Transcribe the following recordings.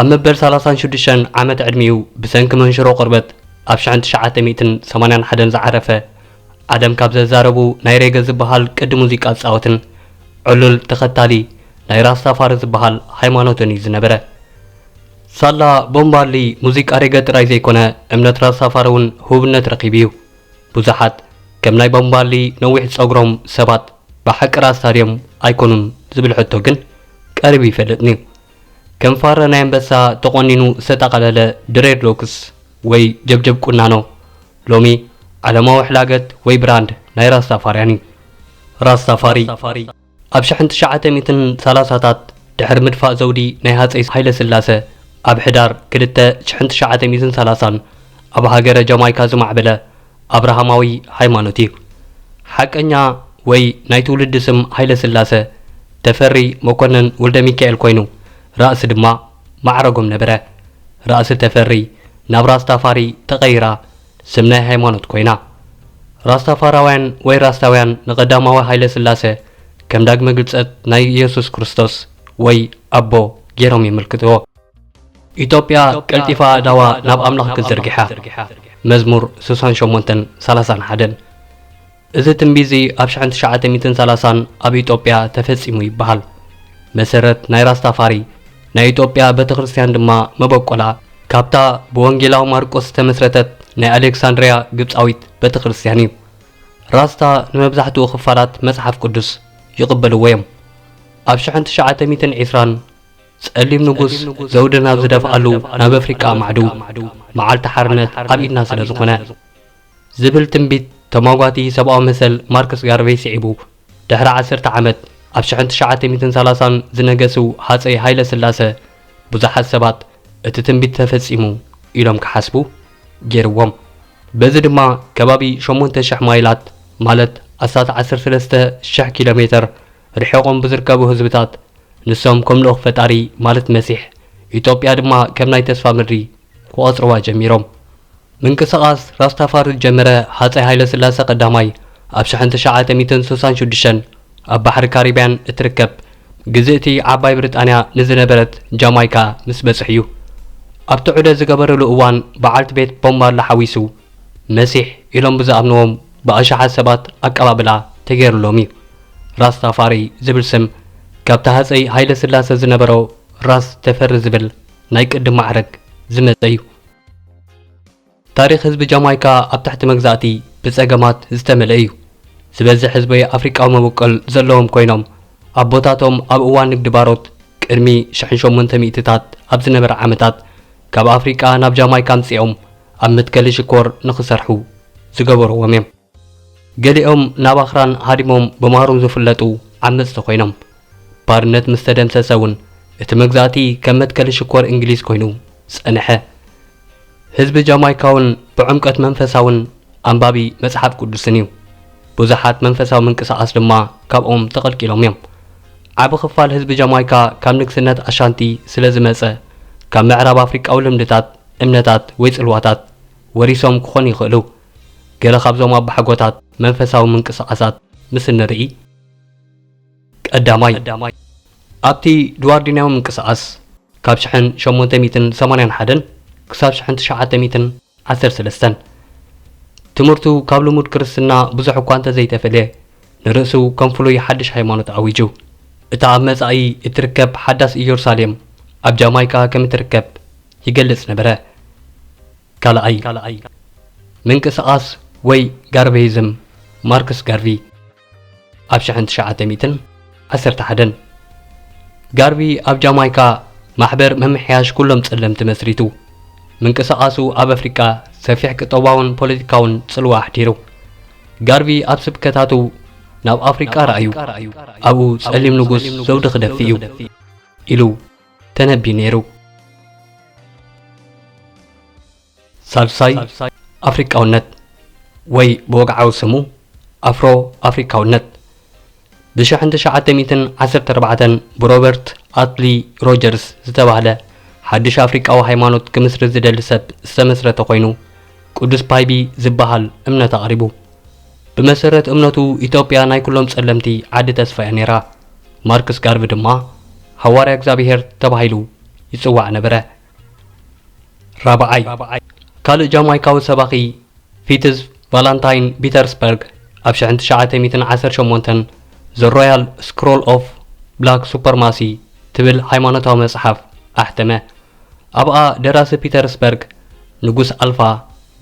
ኣብ መበል ሰላሳን ሽዱሽተን ዓመት ዕድሚኡ ብሰንኪ መንሽሮ ቆርበት ኣብ ሽሕን ትሽዓተ ሚእትን ሰማንያን ሓደን ዝዓረፈ ኣደም ካብ ዘዛረቡ ናይ ሬገ ዝበሃል ቅዲ ሙዚቃ ዝጻወትን ዕሉል ተኸታሊ ናይ ራስታፋሪ ዝበሃል ሃይማኖትን እዩ ዝነበረ። ሳላ ቦብ ማርሊ ሙዚቃ ሬገ ጥራይ ዘይኮነ እምነት ራስታፋሪ እውን ህቡብነት ረኺቡ እዩ። ብዙሓት ከም ናይ ቦብ ማርሊ ነዊሕ ጸጉሮም ሰባት ብሓቂ ራስታ ድዮም ኣይኮኑን ዝብል ሕቶ ግን ቀሪቡ ይፈልጥን'ዩ። ከም ፋረ ናይ ኣንበሳ ተቖኒኑ ዝተጠቐለለ ድሬድ ሎክስ ወይ ጀብጀብ ቁናኖ ሎሚ ዓለማዊ ሕላገት ወይ ብራንድ ናይ ራስታፋርያን እዩ። ራስታፋሪ ኣብ ሽሕን ትሽዓተ ሚእትን ሰላሳታት ድሕሪ ምድፋእ ዘውዲ ናይ ሃጸይ ሃይለስላሰ ኣብ ሕዳር ክልተ ሽሕን ትሽዓተ ሚእትን ሰላሳን ኣብ ሃገረ ጃማይካ ዝማዕበለ ኣብርሃማዊ ሃይማኖት እዩ። ሓቀኛ ወይ ናይ ትውልዲ ስም ሃይለስላሰ ተፈሪ መኮነን ወልደሚካኤል ኮይኑ ራእሲ ድማ ማዕረጎም ነበረ። ራእሲ ተፈሪ ናብ ራስታፋሪ ተቐይራ ስም ናይ ሃይማኖት ኮይና። ራስታፋራውያን ወይ ራስታውያን ንቐዳማዊ ሃይለስላሰ ከም ዳግመ ግልጸት ናይ ኢየሱስ ክርስቶስ ወይ ኣቦ ገይሮም የመልክትዎ። ኢትዮጵያ ቀልጢፋ ኣእዳዋ ናብ ኣምላኽ ክትዝርግሓ መዝሙር ስሳን ሸሞንተን ሰላሳን ሓደን እዚ ትንቢት እዚ ኣብ ሽሕን ትሽዓተ ሚትን ሰላሳን ኣብ ኢትዮጵያ ተፈጺሙ ይበሃል መሰረት ናይ ራስታፋሪ ናይ ኢትዮጵያ ቤተ ክርስቲያን ድማ መበቆላ ካብታ ብወንጌላዊ ማርቆስ ዝተመስረተት ናይ ኣሌክሳንድርያ ግብፃዊት ቤተ ክርስቲያን እዩ ራስታ ንመብዛሕትኡ ክፋላት መጽሓፍ ቅዱስ ይቕበልዎ እዮም ኣብ 1920 ጸሊም ንጉስ ዘውዲ ናብ ዝደፍኣሉ ናብ ኣፍሪቃ ኣማዕድው፣ መዓልቲ ሓርነት ኣብ ኢድና ስለ ዝኹነ። ዝብል ትንቢት ተሟጓቲ ሰብኣዊ መሰል ማርክስ ጋርቨይ ስዒቡ፣ ድሕሪ ዓሰርተ ዓመት ኣብ ሽሕን ትሽዓተ ሚእትን ሰላሳን ዝነገሱ ሃጸይ ሃይለ ስላሰ ብዙሓት ሰባት እቲ ትንቢት ተፈጺሙ ኢሎም ክሓስቡ ገይርዎም። በዚ ድማ ከባቢ ሸሞንተ ሽሕ ማይላት ማለት ኣስታት ዓሰርተ ሰለስተ ሽሕ ኪሎ ሜተር ርሒቖም ብዝርከቡ ህዝብታት ንሶም ከም ልኡኽ ፈጣሪ ማለት መሲሕ፣ ኢጦጵያ ድማ ከም ናይ ተስፋ ምድሪ ክቖጽርዋ ጀሚሮም። ምንቅስቓስ ራስታፋሪ ዝጀመረ ሃጸይ ሃይለስላሰ ቀዳማይ ኣብ ሸሕን ትሽዓተ ሚእትን ስሳን ሽዱሽተን ኣብ ባሕሪ ካሪብያን እትርከብ ግዝእቲ ዓባይ ብሪጣንያ ንዝነበረት ጃማይካ ምስ በጽሕ'ዩ። ኣብቲ ዑደት ዝገበርሉ እዋን በዓልቲ ቤት ቦብ ማርሊ ሓዊሱ፣ መሲሕ ኢሎም ብዝኣምንዎም ብኣሽሓት ሰባት ኣቀባብላ ተገይርሎም እዩ። ራስታፋሪ ዝብል ስም ካብቲ ሃጸይ ሃይለስላሰ ዝነበሮ ራስ ተፈሪ ዝብል ናይ ቅድም ማዕረግ ዝመጸ እዩ። ታሪኽ ህዝቢ ጃማይካ ኣብ ትሕቲ መግዛእቲ ብጸገማት ዝተመልአ እዩ። ዝበዝሕ ህዝቢ ኣፍሪቃዊ መበቆል ዘለዎም ኮይኖም፣ ኣቦታቶም ኣብ እዋን ንግዲ ባሮት ቅድሚ ሽሕን ሸሞንተ ሚእቲታት ኣብ ዝነበረ ዓመታት ካብ ኣፍሪቃ ናብ ጃማይካ ኣምጺኦም ኣብ መትከሊ ሽኮር ንኽሰርሑ ዝገበርዎም እዮም። ገሊኦም ናብ ኣኽራን ሃዲሞም ብማሩን ዝፍለጡ ዓመጽቲ ኮይኖም። ባርነት ምስ ተደምሰሰ እውን እቲ መግዛእቲ ከም መትከሊ ሽኮር እንግሊዝ ኮይኑ ጸንሐ። ህዝቢ ጃማይካ እውን ብዕምቆት መንፈሳውን ኣንባቢ መጽሓፍ ቅዱስን እዩ። ብዙሓት መንፈሳዊ ምንቅስቓስ ድማ ካብኦም ተቐልቂሎም እዮም። ዓቢ ክፋል ህዝቢ ጃማይካ ካብ ንግስነት ኣሻንቲ ስለ ዝመጸ ካብ ምዕራብ ኣፍሪቃዊ ልምድታት እምነታት ወይ ጽልዋታት ወሪሶም ክኾኑ ይኽእሉ። ገለ ካብዞም ኣባሓጎታት መንፈሳዊ ምንቅስቓሳት ምስ እንርኢ፣ ቀዳማይ፣ ኣብቲ ድዋርዲንያዊ ምንቅስቓስ ካብ ሽሕን ሸሞንተ ሚእትን ሰማንያን ሓደን ክሳብ ሽሕን ትሽዓተ ሚእትን ዓሰርተ ሰለስተን፣ ትምህርቱ ካብ ልሙድ ክርስትና ብዙሕ እኳ እንተ ዘይተፈልየ፣ ንርእሱ ከም ፍሉይ ሓድሽ ሃይማኖት ኣዊጁ። እታ ኣብ መጻኢ እትርከብ ሓዳስ ኢየሩሳሌም ኣብ ጃማይካ ከም እትርከብ ይገልጽ ነበረ። ካልኣይ ምንቅስቓስ ወይ ጋርቨይዝም ማርክስ ጋርቪ ኣብ ሽሕን ትሽዓተ ሚእትን ዓሰርተ ሓደን ጋርቪ ኣብ ጃማይካ ማሕበር ምምሕያሽ ኩሎም ጸለምቲ መስሪቱ። ምንቅስቓሱ ኣብ ኣፍሪቃ ሰፊሕ ቅጠባውን ፖለቲካውን ጽልዋ ኣሕዲሩ። ጋርቪ ኣብ ስብከታቱ ናብ ኣፍሪቃ ረኣዩ፣ ኣብኡ ጸሊም ንጉስ ዘውዲ ክደፍእ እዩ ኢሉ ተነብዩ ነይሩ። ሳልሳይ ኣፍሪቃውነት ወይ ብወግዓዊ ስሙ ኣፍሮ ኣፍሪካውነት ብ ሸሕን ትሽዓተ ሚእትን ዓሰርተ ኣርባዕተን ብሮበርት ኣትሊ ሮጀርስ ዝተባህለ ሓድሽ ኣፍሪቃዊ ሃይማኖት ክምስርት ዝደሊ ሰብ ዝተመስረተ ኮይኑ ቅዱስ ፓይቢ ዝበሃል እምነት ኣቕሪቡ። ብመሰረት እምነቱ ኢትዮጵያ ናይ ኩሎም ጸለምቲ ዓዲ ተስፋ'ያ ነይራ። ማርክስ ጋርቪ ድማ ሃዋርያ እግዚኣብሔር ተባሂሉ ይጽዋዕ ነበረ። ራብዓይ፣ ካልእ ጃማይካዊ ሰባኺ ፊትዝ ቫላንታይን ቢተርስበርግ ኣብ ሽሕን ትሽዓተ ሚእትን ዓሰርተ ሸሞንተን ዘ ሮያል ስክሮል ኦፍ ብላክ ሱፐርማሲ ትብል ሃይማኖታዊ መጽሓፍ ኣሕተመ። ኣብኣ ደራሲ ፒተርስበርግ ንጉስ ኣልፋ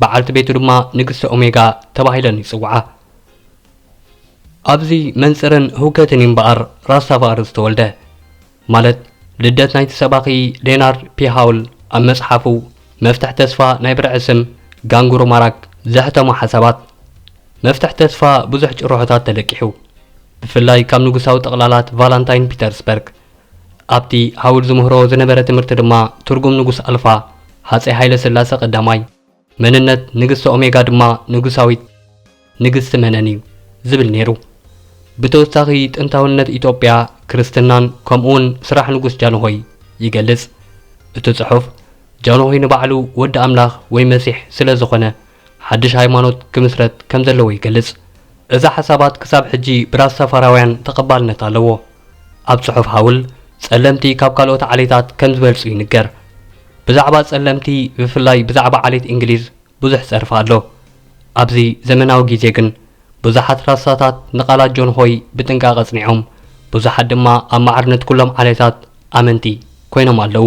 በዓልቲ ቤቱ ድማ ንግስቲ ኦሜጋ ተባሂለን ይጽውዓ። ኣብዚ መንጽርን ህውከትን እዩ እምበኣር ራስታፋሪ ዝተወልደ ማለት ልደት ናይቲ ሰባኺ ሌናርድ ፒ ሃውል ኣብ መጽሓፉ መፍትሕ ተስፋ ናይ ብርዒ ስም ጋንጉሩ ማራክ ዘሕተሞ ሓሳባት መፍትሕ ተስፋ ብዙሕ ጭርሖታት ተለቂሑ ብፍላይ ካብ ንጉሳዊ ጠቕላላት ቫላንታይን ፒተርስበርግ ኣብቲ ሃውል ዝምህሮ ዝነበረ ትምህርቲ ድማ ትርጉም ንጉስ ኣልፋ ሃፀይ ሃይለ ስላሰ ቀዳማይ መንነት ንግስቲ ኦሜጋ ድማ ንጉሳዊት ንግስቲ መነን እዩ ዝብል ነይሩ። ብተወሳኺ ጥንታውነት ኢትዮጵያ፣ ክርስትናን ከምኡውን ስራሕ ንጉስ ጃንሆይ ይገልጽ። እቲ ጽሑፍ ጃንሆይ ንባዕሉ ወዲ ኣምላኽ ወይ መሲሕ ስለ ዝኾነ ሓድሽ ሃይማኖት ክምስረት ከም ዘለዎ ይገልጽ። እዚ ሓሳባት ክሳብ ሕጂ ብራስታፋራውያን ተቐባልነት ኣለዎ። ኣብ ጽሑፍ ሃውል፣ ጸለምቲ ካብ ካልኦት ዓሌታት ከም ዝበልጹ ይንገር። ብዛዕባ ጸለምቲ ብፍላይ ብዛዕባ ዓሌት እንግሊዝ ብዙሕ ጸርፊ ኣሎ። ኣብዚ ዘመናዊ ግዜ ግን ብዙሓት ራሳታት ንቓላት ጆን ሆይ ብጥንቃቐ ኣጽኒዖም፣ ብዙሓት ድማ ኣብ ማዕርነት ኩሎም ዓሌታት ኣመንቲ ኮይኖም ኣለዉ።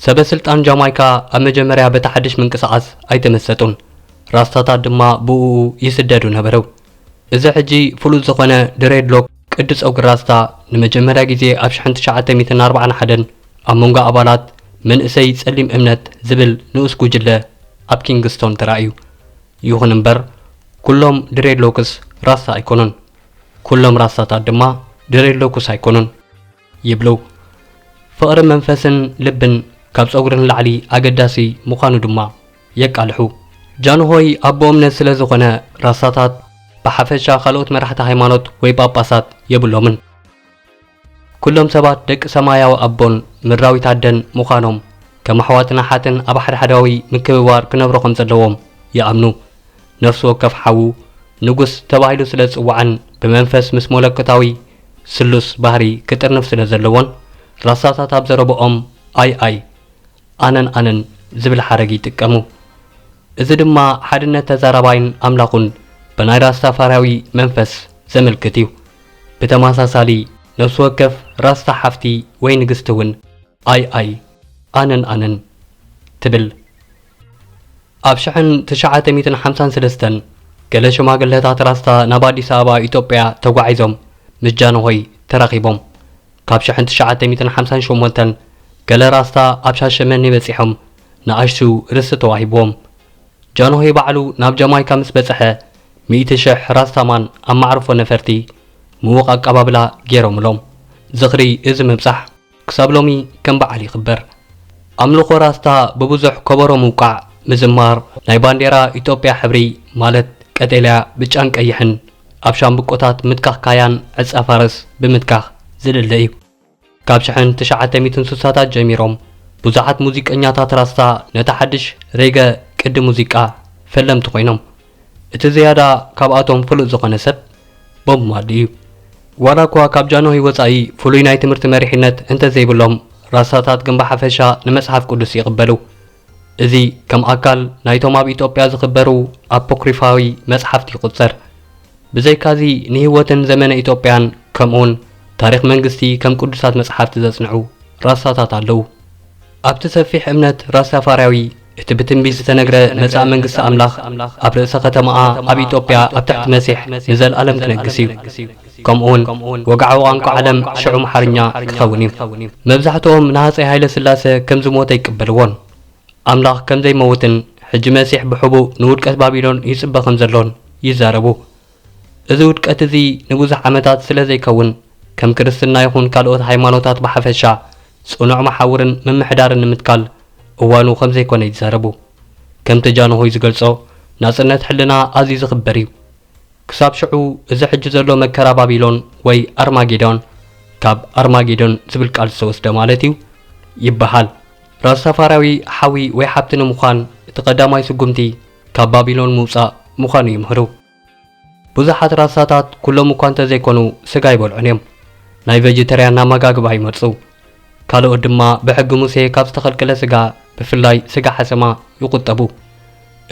ሰበ ስልጣን ጃማይካ ኣብ መጀመርያ በቲ ሓድሽ ምንቅስቓስ ኣይተመሰጡን፣ ራስታታት ድማ ብእኡ ይስደዱ ነበሩ። እዚ ሕጂ ፍሉጥ ዝኾነ ድሬድሎክ፣ ቅዲ ጸጉሪ ራስታ ንመጀመርያ ግዜ ኣብ ሽሕን ትሽዓተ ሚእትን ኣርብዓን ሓደን ኣብ መንጎ ኣባላት መንእሰይ ጸሊም እምነት ዝብል ንኡስ ጉጅለ ኣብ ኪንግስቶን ተራእዩ። ይኹን እምበር ኩሎም ድሬድሎክስ ራስታ ኣይኮኑን። ኩሎም ራስታታት ድማ ድሬድሎክስ ኣይኮኑን። ይብሉ። ፍቕሪ መንፈስን ልብን ካብ ጸጉሪ ንላዕሊ ኣገዳሲ ምዃኑ ድማ የቃልሑ። ጃንሆይ ኣቦ እምነት ስለ ዝኾነ ራሳታት ብሓፈሻ ካልኦት መራሕቲ ሃይማኖት ወይ ጳጳሳት የብሎምን። ኩሎም ሰባት ደቂ ሰማያዊ ኣቦን ምድራዊት ኣደን ምዃኖም ከም ኣሕዋትን ኣሓትን ኣብ ሓድሕዳዊ ምክብባር ክነብሩ ከም ዘለዎም ይኣምኑ። ነፍሲ ወከፍ ሓዉ ንጉስ ተባሂሉ ስለ ዝጽዋዕን ብመንፈስ ምስ ሞለኮታዊ ስሉስ ባህሪ ክጥርንፍ ስለ ዘለዎን ራሳታት ኣብ ዘረብኦም ኣይ ኣይ፣ ኣነን ኣነን ዝብል ሓረግ ይጥቀሙ። እዚ ድማ ሓድነት ተዛራባይን ኣምላኹን ብናይ ራስታፋርያዊ መንፈስ ዘመልክት እዩ። ብተመሳሳሊ ነፍሲ ወከፍ ራስታ ሓፍቲ ወይ ንግስቲ እውን ኣይ ኣይ፣ ኣነን ኣነን ትብል። ኣብ ሽሕን ትሽዓተ ሚእትን ሓምሳን ስለስተን ገለ ሽማግለታት ራስታ ናብ ኣዲስ ኣበባ ኢጦጵያ ተጓዒዞም ምስ ጃንሆይ ተራኺቦም። ካብ ሽሕን ትሽዓተ ሚእትን ሓምሳን ሸሞንተን ገለ ራስታ ኣብ ሻሸመኔ በጺሖም ንኣሽቱ ርስቲ ተዋሂብዎም። ጃንሆይ ባዕሉ ናብ ጃማይካ ምስ በጽሐ ሚእቲ ሽሕ ራስታ ማን ኣብ ማዕርፎ ነፈርቲ ምዉቕ ኣቀባብላ ገይሮምሎም። ዝኽሪ እዚ ምብጻሕ። ክሳብ ሎሚ ከም በዓል ይኽበር። ኣምልኾ ራስታ ብብዙሕ ከበሮ ምውቃዕ፣ ምዝማር፣ ናይ ባንዴራ ኢትዮጵያ ሕብሪ ማለት ቀጤልያ፣ ብጫን ቀይሕን ኣብ ሻምብቆታት ምትካኽ ካያን ዕጸ ፋርስ ብምትካኽ ዝልለ እዩ። ካብ ሽሕን ትሽዓተ ሚእትን ስሳታት ጀሚሮም ብዙሓት ሙዚቀኛታት ራስታ ነታ ሓድሽ ሬገ ቅዲ ሙዚቃ ፈለምቲ ኮይኖም። እቲ ዝያዳ ካብኣቶም ፍሉጥ ዝኾነ ሰብ ቦብ ማርሊ እዩ። ዋላኳ ካብ ጃንሆይ ወጻኢ ፍሉይ ናይ ትምህርቲ መሪሕነት እንተዘይብሎም ራስታታት ግን ብሓፈሻ ንመጽሓፍ ቅዱስ ይቕበሉ። እዚ ከም ኣካል ናይቶም ኣብ ኢጦጵያ ዝኽበሩ ኣፖክሪፋዊ መጽሓፍቲ ይቑጸር። ብዘይካዚ ንህይወትን ዘመነ ኢጦጵያን ከምኡውን ታሪኽ መንግስቲ ከም ቅዱሳት መጽሓፍቲ ዘጽንዑ ራስታታት ኣለዉ። ኣብቲ ሰፊሕ እምነት ራስታፋርያዊ እቲ ብትንቢት ዝተነግረ መጻኢ መንግስቲ ኣምላኽ ኣብ ርእሰ ኸተማኣ ኣብ ኢጦጵያ ኣብ ትሕቲ መሲሕ ንዘልኣለም ክነግስ እዩ። ከምኡውን ወግዓዊ ቛንቋ ዓለም ሽዑ ኣምሓርኛ ክኸውን እዩ። መብዛሕትኦም ንሃጸይ ሃይለ ስላሰ ከም ዝሞተ ኣይቅበልዎን። ኣምላኽ ከም ዘይመውትን ሕጂ መሲሕ ብሕቡእ ንውድቀት ባቢሎን ይጽበ ከም ዘሎን ይዛረቡ። እዚ ውድቀት እዚ ንብዙሕ ዓመታት ስለ ዘይከውን፣ ከም ክርስትና ይኹን ካልኦት ሃይማኖታት ብሓፈሻ፣ ጽኑዕ መሓውርን ምምሕዳርን ንምትካል እዋኑ ከም ዘይኮነ ይዛረቡ። ከምቲ ጃንሆይ ዝገልጾ፣ ናጽነት ሕልና ኣዝዩ ዝኽበር እዩ። ክሳብ ሽዑ እዚ ሕጂ ዘሎ መከራ ባቢሎን ወይ ኣርማጌዶን፣ ካብ ኣርማጌዶን ዝብል ቃል ዝተወስደ ማለት እዩ፣ ይበሃል። ራስታፋርያዊ ሓዊ ወይ ሓብቲ ንምዃን እቲ ቀዳማይ ስጉምቲ፣ ካብ ባቢሎን ምውጻእ ምዃኑ ይምህሩ። ብዙሓት ራሳታት፣ ኩሎም እኳ እንተ ዘይኮኑ፣ ስጋ ኣይበልዑን እዮም። ናይ ቨጂተርያን ኣመጋግባ ይመርጹ። ካልኦት ድማ ብሕጊ ሙሴ ካብ ዝተኸልከለ ስጋ፣ ብፍላይ ስጋ ሓሰማ፣ ይቑጠቡ።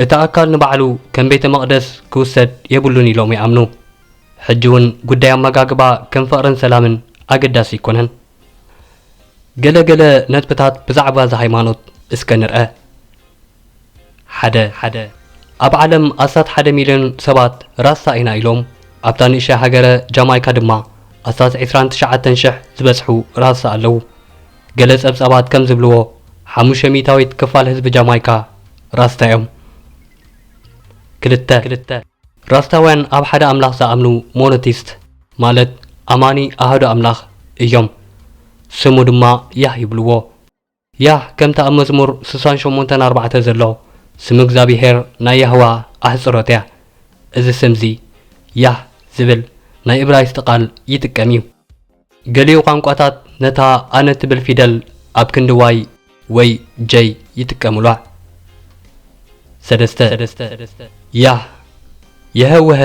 እቲ ኣካል ንባዕሉ ከም ቤተ መቕደስ ክውሰድ የብሉን ኢሎም ይኣምኑ። ሕጂ እውን ጉዳይ ኣመጋግባ ከም ፍቕርን ሰላምን ኣገዳሲ ኣይኮነን። ገለ ገለ ነጥብታት ብዛዕባ እዛ ሃይማኖት እስከ ንርኣ። ሓደ ኣብ ዓለም ኣስታት ሓደ ሚልዮን ሰባት ራስታ ኢና ኢሎም፣ ኣብታ ንእሽተይ ሃገረ ጃማይካ ድማ ኣስታት ዕስራን ትሽዓተን ሽሕ ዝበጽሑ ራስታ ኣለዉ። ገለ ጸብጻባት ከም ዝብልዎ ሓሙሽተ ሚእታዊት ክፋል ህዝቢ ጃማይካ ራስታ እዮም። ክልተ። ራስታውያን ኣብ ሓደ ኣምላኽ ዝኣምኑ ሞኖቲስት ማለት ኣማኒ ኣሃዱ ኣምላኽ እዮም። ስሙ ድማ ያህ ይብልዎ። ያህ ከምቲ ኣብ መዝሙር ስሳን ሸሞንተን ኣርባዕተ ዘሎ ስም እግዝኣብሄር ናይ ያህዋ ኣሕጽሮት እያ። እዚ ስም እዚ ያህ ዝብል ናይ እብራይስጢ ቃል ይጥቀም እዩ። ገሊኡ ቋንቋታት ነታ ኣነ እትብል ፊደል ኣብ ክንዲ ዋይ ወይ ጀይ ይጥቀሙላ። ሰለስተ። ያህ፣ የሀወሀ፣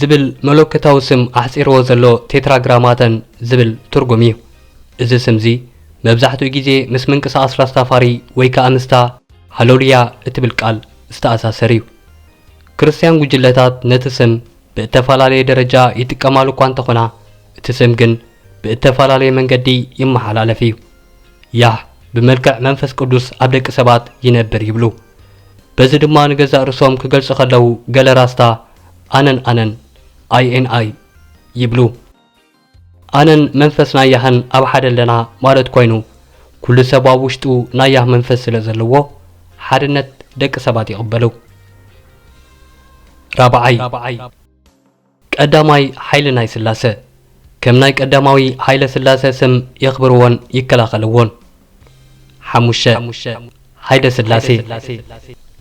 ዝብል መለኮታዊ ስም ኣሕጺርዎ ዘሎ ቴትራግራማተን ዝብል ትርጉም እዩ። እዚ ስምዚ መብዛሕትኡ ግዜ ምስ ምንቅስቓስ ራስታፋሪ ወይ ከኣ ምስታ ሃለሉያ እትብል ቃል ዝተኣሳሰር እዩ። ክርስትያን ጕጅለታት ነቲ ስም ብእተፈላለየ ደረጃ ይጥቀማሉ እኳ እንተ ዀና፣ እቲ ስም ግን ብእተፈላለየ መንገዲ ይመሓላለፍ እዩ። ያህ ብመልክዕ መንፈስ ቅዱስ ኣብ ደቂ ሰባት ይነብር ይብሉ። በዚ ድማ ንገዛእ ርእሶም ክገልጹ ኸለዉ ገለ ራስታ ኣነን ኣነን፣ INI፣ ይብሉ። ኣነን መንፈስ ናያህን ኣብ ሓደ ኣለና ማለት ኮይኑ ኩሉ ሰብ ኣብ ውሽጡ ናያህ መንፈስ ስለ ዘለዎ ሓድነት ደቂ ሰባት ይቕበሉ። ራብዓይ፣ ቀዳማይ ሓይሊ ናይ ስላሰ ከም ናይ ቀዳማዊ ሃይለ ስላሰ ስም የኽብርዎን ይከላኸልዎን። ሓሙሽተ፣ ሃይደስላሴ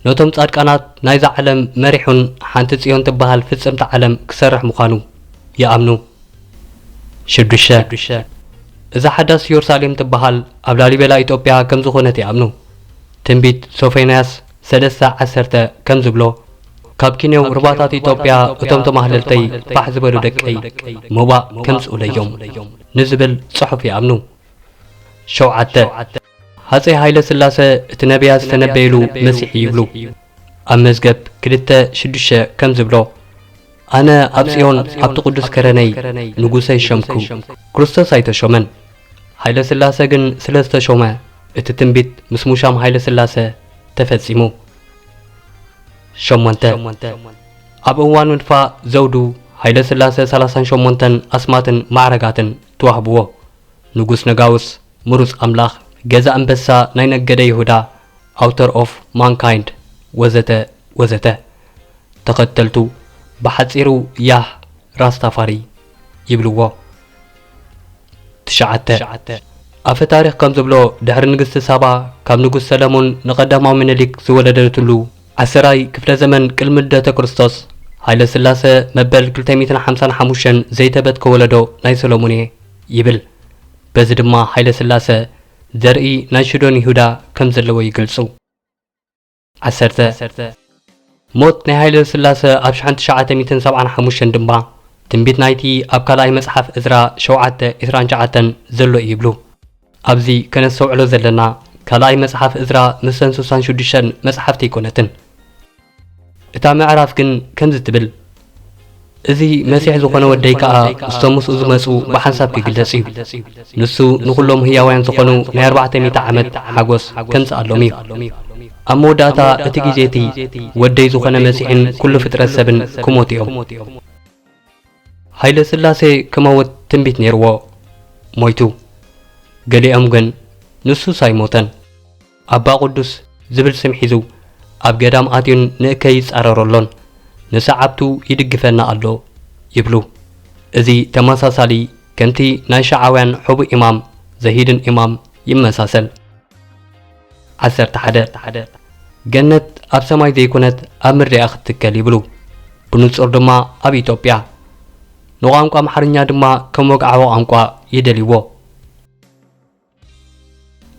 ነቶም ጻድቃናት ናይዛ ዓለም መሪሑን ሓንቲ ጽዮን ትበሃል ፍጽምቲ ዓለም ክሰርሕ ምዃኑ ይኣምኑ። ሽዱሽተ፣ እዛ ሓዳስ ዮርሳሌም ትበሃል ኣብ ላሊበላ ኢጦጵያ ከም ዝኾነት ይኣምኑ። ትንቢት ሶፎንያስ ሰለስተ ዓሰርተ ከም ዝብሎ ካብ ኪኔው ርባታት ኢጦጵያ እቶም ተማህለልተይ ፋሕ ዝበሉ ደቀይ ሞባእ ከምጽኡለዮም ንዝብል ጽሑፍ ይኣምኑ። ሸውዓተ፣ ሃጸይ ሃይለስላሰ እቲ ነብያት ዝተነበዩሉ መሲሕ እዩ ይብሉ። ኣብ መዝገብ ክልተ ሽዱሽተ ከም ዝብሎ፣ ኣነ ኣብ ጽዮን ኣብቲ ቅዱስ ከረነይ ንጉሰይ ሸምኩ። ክርስቶስ ኣይተሾመን፣ ሃይለስላሰ ግን ስለ ዝተሾመ እቲ ትንቢት ምስ ሙሻም ሃይለስላሰ ተፈጺሙ። ሸሞንተ፣ ኣብ እዋን ምድፋእ ዘውዱ ሃይለስላሰ ሰላሳን ሸሞንተን ኣስማትን ማዕረጋትን ተዋህብዎ። ንጉስ ነጋውስ ምሩጽ ኣምላኽ ገዛ ኣንበሳ ናይ ነገደ ይሁዳ Author of Mankind ወዘተ ወዘተ ተኸተልቱ ብሓጺሩ ያህ ራስታፋሪ ይብልዎ። ትሽዓተ። ኣፈ ታሪኽ ከም ዝብሎ ድሕሪ ንግስቲ ሳባ ካብ ንጉስ ሰለሙን ንቀዳማዊ ምኒሊክ ዝወለደትሉ ዓሰራይ ክፍለ ዘመን ቅልሚ ልደተ ክርስቶስ ሃይለስላሰ መበል ክልተ ሚእትን ሓምሳን ሓሙሽተን ዘይተበትከ ወለዶ ናይ ሰለሙን እየ። ይብል። በዚ ድማ ሃይለስላሰ ዘርኢ ናይ ሽዶን ይሁዳ ከም ዘለዎ ይገልጹ። ዓሰርተ። ሞት ናይ ሃይለስላሰ ኣብ ሽሓን ትሽዓተ ሚእትን ሰብዓን ሓሙሽተን ድማ ትንቢት ናይቲ ኣብ ካልኣይ መጽሓፍ እዝራ ሸውዓተ ዕስራን ትሽዓተን ዘሎ እዩ ይብሉ። ኣብዚ ከነስተውዕሎ ዘለና ካልኣይ መጽሓፍ እዝራ ምስዘን ሱሳን ሽዱሽተን መጽሓፍቲ ኣይኮነትን። እታ ምዕራፍ ግን ከምዚ ትብል፣ እዚ መሲሕ ዝዀነ ወደይ ከኣ ምስቶም ምስኡ ዝመጹ ብሓንሳብ ኪግለጽ እዩ። ንሱ ንዅሎም ህያዋያን ዝዀኑ ናይ ኣርባዕተ ሚእቲ ዓመት ሓጐስ ኬምጽኣሎም እዩ። ኣብ መወዳእታ እቲ ግዜ እቲ፣ ወደይ ዝዀነ መሲሕን ኵሉ ፍጥረት ሰብን ኪሞቱ እዮም። ሃይለስላሴ ኪመውት ትንቢት ነይርዎ፣ ሞይቱ። ገሊኦም ግን፣ ንሱስ ኣይሞተን። ኣባ ቅዱስ ዝብል ስም ሒዙ ኣብ ገዳም ኣትዩን ንእከይ ይጻረሮ ኣሎን ንሰዓብቱ ይድግፈና ኣሎ ይብሉ። እዚ ተመሳሳሊ ከምቲ ናይ ሸዓውያን ሕቡእ ኢማም ዘሂድን ኢማም ይመሳሰል። ዓሰርተ ሓደ ገነት ኣብ ሰማይ ዘይኮነት ኣብ ምድሪ እያ ክትትከል ይብሉ። ብንጹር ድማ ኣብ ኢትዮጵያ። ንቋንቋ ኣምሓርኛ ድማ ከም ወግዓዊ ቋንቋ ይደልይዎ።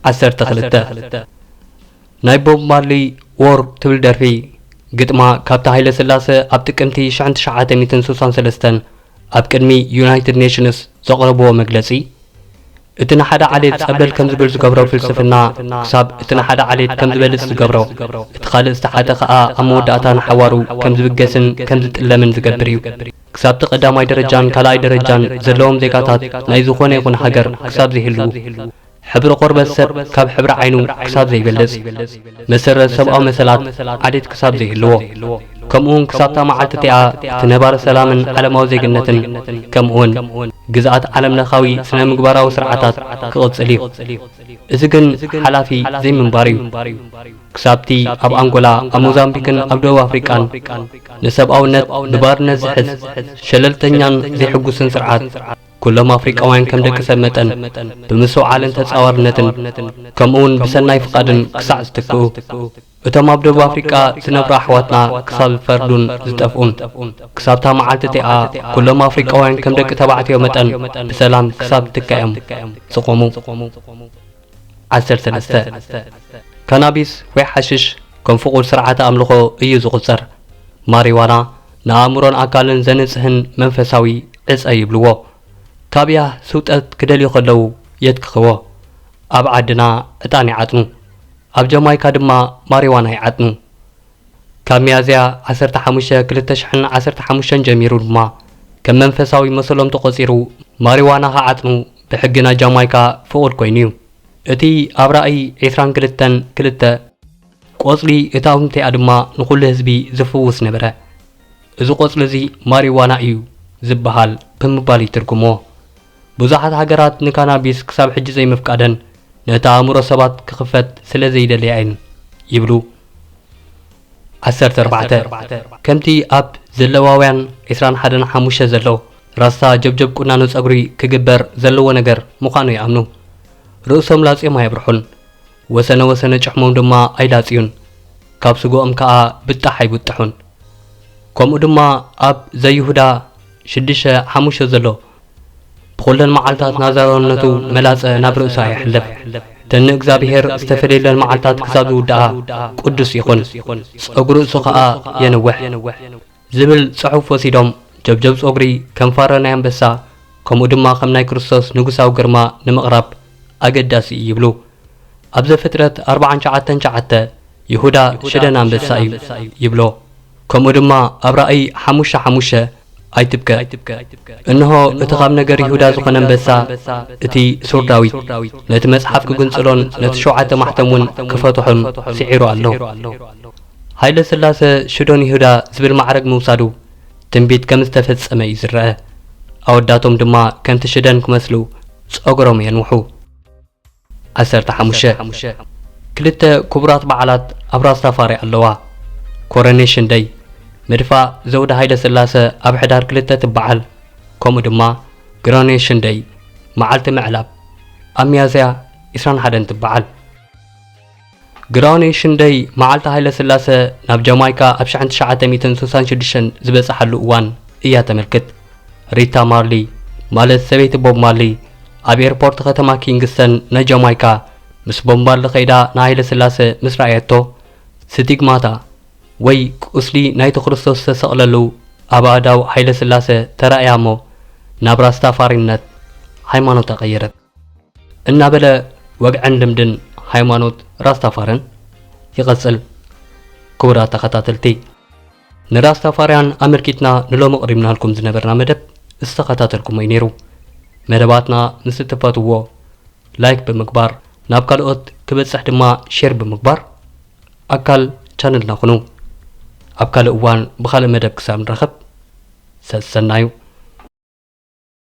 ዓሰርተ ክልተ ናይ ቦብ ማርሊ ዎር ትብል ደርፊ ግጥማ ካብቲ ሃይለ ስላሰ ኣብ ጥቅምቲ 1963 ኣብ ቅድሚ ዩናይትድ ኔሽንስ ዘቕረብዎ መግለጺ እቲ ንሓደ ዓሌት ጸብለል ከም ዝብል ዝገብሮ ፍልስፍና ክሳብ እቲ ንሓደ ዓሌት ከም ዝበልጽ ዝገብሮ እቲ ካልእ ዝተሓተ ከኣ ኣብ መወዳእታ ንሓዋሩ ከም ዝብገስን ከም ዝጥለምን ዝገብር እዩ ክሳብ'ቲ ቀዳማይ ደረጃን ካልኣይ ደረጃን ዘለዎም ዜጋታት ናይ ዝኾነ ይኹን ሃገር ክሳብ ዘይህልዉ፣ ሕብሪ ቆርበት ሰብ ካብ ሕብሪ ዓይኑ ክሳብ ዘይበልጽ፣ መሰረት ሰብኣዊ መሰላት ዓሌት ክሳብ ዘይህልዎ፣ ከምኡ'ውን ክሳብ'ታ መዓልቲ እቲኣ እቲ ነባሪ ሰላምን ዓለማዊ ዜግነትን ከምኡ'ውን ግዝኣት ዓለምለኻዊ ስነ-ምግባራዊ ስርዓታት ክቕጽል እዩ። እዚ ግን ሓላፊ ዘይምንባር እዩ። ክሳብቲ ኣብ ኣንጎላ፣ ኣብ ሞዛምቢክን ኣብ ደቡብ ኣፍሪቃን ንሰብኣውነት ብባርነት ዝሕዝ ሸለልተኛን ዘይሕጉስን ስርዓት፣ ኩሎም ኣፍሪቃውያን ከም ደቂ ሰብ መጠን ብምስውዓልን ተጻዋርነትን ከምኡ'ውን ብሰናይ ፍቓድን ክሳዕ ዝትክኡ፣ እቶም ኣብ ደቡብ ኣፍሪቃ ዝነብሩ ኣሕዋትና ክሳብ ዝፈርዱን ዝጠፍኡን፣ ክሳብታ መዓልቲ እቲኣ ኩሎም ኣፍሪቃውያን ከም ደቂ ተባዕትዮ መጠን ብሰላም ክሳብ ትካኤም ዝቖሙ። ዓሰርተ መስተ፣ ካናቢስ ወይ ሓሽሽ ከም ፍቑድ ስርዓተ ኣምልኾ እዩ ዝቑጸር። ማሪዋና ንኣእምሮን ኣካልን ዘንጽህን መንፈሳዊ ዕጸ ይብልዎ። ካብ ያህ ስውጠት ክደልዩ ከለዉ የትክኽዎ። ኣብ ዓድና ዕጣን ይዓጥኑ። ኣብ ጃማይካ ድማ ማሪዋና ይዓጥኑ። ካብ ሚያዝያ ዓሰርተ ሓሙሽተ ክልተ ሽሕን ዓሰርተ ሓሙሽተን ጀሚሩ ድማ ከም መንፈሳዊ መሰሎም ተቖጺሩ ማሪዋና ክዓጥኑ ብሕጊ ናይ ጃማይካ ፍቑድ ኮይኑ እዩ። እቲ ኣብ ራእይ ዕስራን ክልተን ክልተ፣ ቆጽሊ እታ ኣውንቲኣ ድማ ንዅሉ ህዝቢ ዝፍውስ ነበረ። እዚ ቆጽሊ እዚ ማሪዋና እዩ ዝበሃል ብምባል ይትርጕምዎ። ብዙሓት ሃገራት ንካናቢስ ክሳብ ሕጂ ዘይምፍቃደን ነቲ ኣእምሮ ሰባት ክኽፈት ስለ ዘይደልያ እየን ይብሉ። ዓሰርተ ኣርባዕተ ከምቲ ኣብ ዘለዋውያን ዕስራን ሓደን ሓሙሽተ ዘሎ፣ ራስታ ጀብጀብ ቁናኖ ጸጉሪ ክግበር ዘለዎ ነገር ምዃኑ ይኣምኑ። ርእሶም ላጽዮም ኣየብርሑን፣ ወሰነ ወሰነ ጭሕሞም ድማ ኣይላጽዩን፣ ካብ ስግኦም ከኣ ብጣሕ ኣይብጥሑን። ከምኡ ድማ ኣብ ዘይሁዳ ሽዱሽተ ሓሙሽተ ዘሎ፣ ብኹለን መዓልታት ናዛ ኣሮንነቱ መላጸ ናብ ርእሳ የሕልፍ። እተን ንእግዚኣብሄር ዝተፈልየለን መዓልታት ክሳብ ዝውድኣ ቅዱስ ይኹን፣ ጸጉሪ ርእሱ ኸኣ የንውሕ። ዝብል ጽሑፍ ወሲዶም ጀብጀብ ጸጉሪ ከም ፋረ ናይ ኣንበሳ ከምኡ ድማ ከም ናይ ክርስቶስ ንጉሳዊ ግርማ ንምቕራብ ኣገዳሲ እዩ ይብሉ። ኣብ ዘፍጥረት ኣርብዓን ሸዓተን ሸዓተ ይሁዳ ሽደን ኣንበሳ እዩ ይብሎ። ከምኡ ድማ ኣብ ራእይ ሓሙሽተ ሓሙሽተ ኣይትብከ፣ እንሆ፣ እቲ ኻብ ነገር ይሁዳ ዝዀነ ኣንበሳ፣ እቲ ሱር ዳዊት፣ ነቲ መጽሓፍ ኪጕንጽሎን ነቲ ሸውዓተ ማሕተምውን ኪፈትሖን ስዒሩ ኣሎ። ሃይለ ስላሰ ሽዶን ይሁዳ ዝብል ማዕርግ ምውሳዱ ትንቢት ከም ዝተፈጸመ እዩ ዝረኣ። ኣወዳቶም ድማ ከምቲ ሽደን ክመስሉ ጸጕሮም የንውሑ። ዓሰርተ ሓሙሽተ፣ ክልተ ክቡራት በዓላት ኣብ ራስ ታፋሪ ኣለዋ። ኮረኔሽን ደይ፣ ምድፋእ ዘውዲ ሃይለስላሰ ኣብ ሕዳር ክልተ ትበዓል፣ ከምኡ ድማ ግሮኔሽን ደይ፣ መዓልቲ ምዕላብ፣ ኣብ ሚያዝያ ዕስራን ሓደን ትበዓል። ግራውኔ ሽንደይ መዓልቲ ሃይለስላሰ ናብ ጃማይካ ኣብ ሽሕን ትሽዓተ ሚእትን ስሳን ሽዱሽተን ዝበጸሓሉ እዋን እያ ተመልክት። ሪታ ማርሊ፣ ማለት ሰበይቲ ቦብ ማርሊ፣ ኣብ ኤርፖርት ኸተማ ኪንግስተን ናይ ጃማይካ ምስ ቦብ ማርሊ ከይዳ ንሃይለስላሰ ምስ ረኣየቶ፣ ስቲግማታ ወይ ቁስሊ ናይቲ ክርስቶስ ዝተሰቕለሉ ኣብ ኣእዳው ሃይለስላሰ ተራእያ እሞ ናብ ራስታፋሪነት፣ ሃይማኖታ፣ ቀየረት። እናበለ ወግዕን ልምድን ሃይማኖት ራስታፋርን ይቐጽል። ክቡራት ተኸታተልቲ ንራስታፋርያን ኣመልኪትና ንሎሚ ቕሪብናልኩም ዝነበርና መደብ ዝተኸታተልኩሞ እዩ ነይሩ። መደባትና ምስ እትፈትዎ ላይክ ብምግባር ናብ ካልኦት ክበጽሕ ድማ ሼር ብምግባር ኣካል ቻነልና ኩኑ። ኣብ ካልእ እዋን ብኻልእ መደብ ክሳብ ንራኸብ ሰሰናዩ።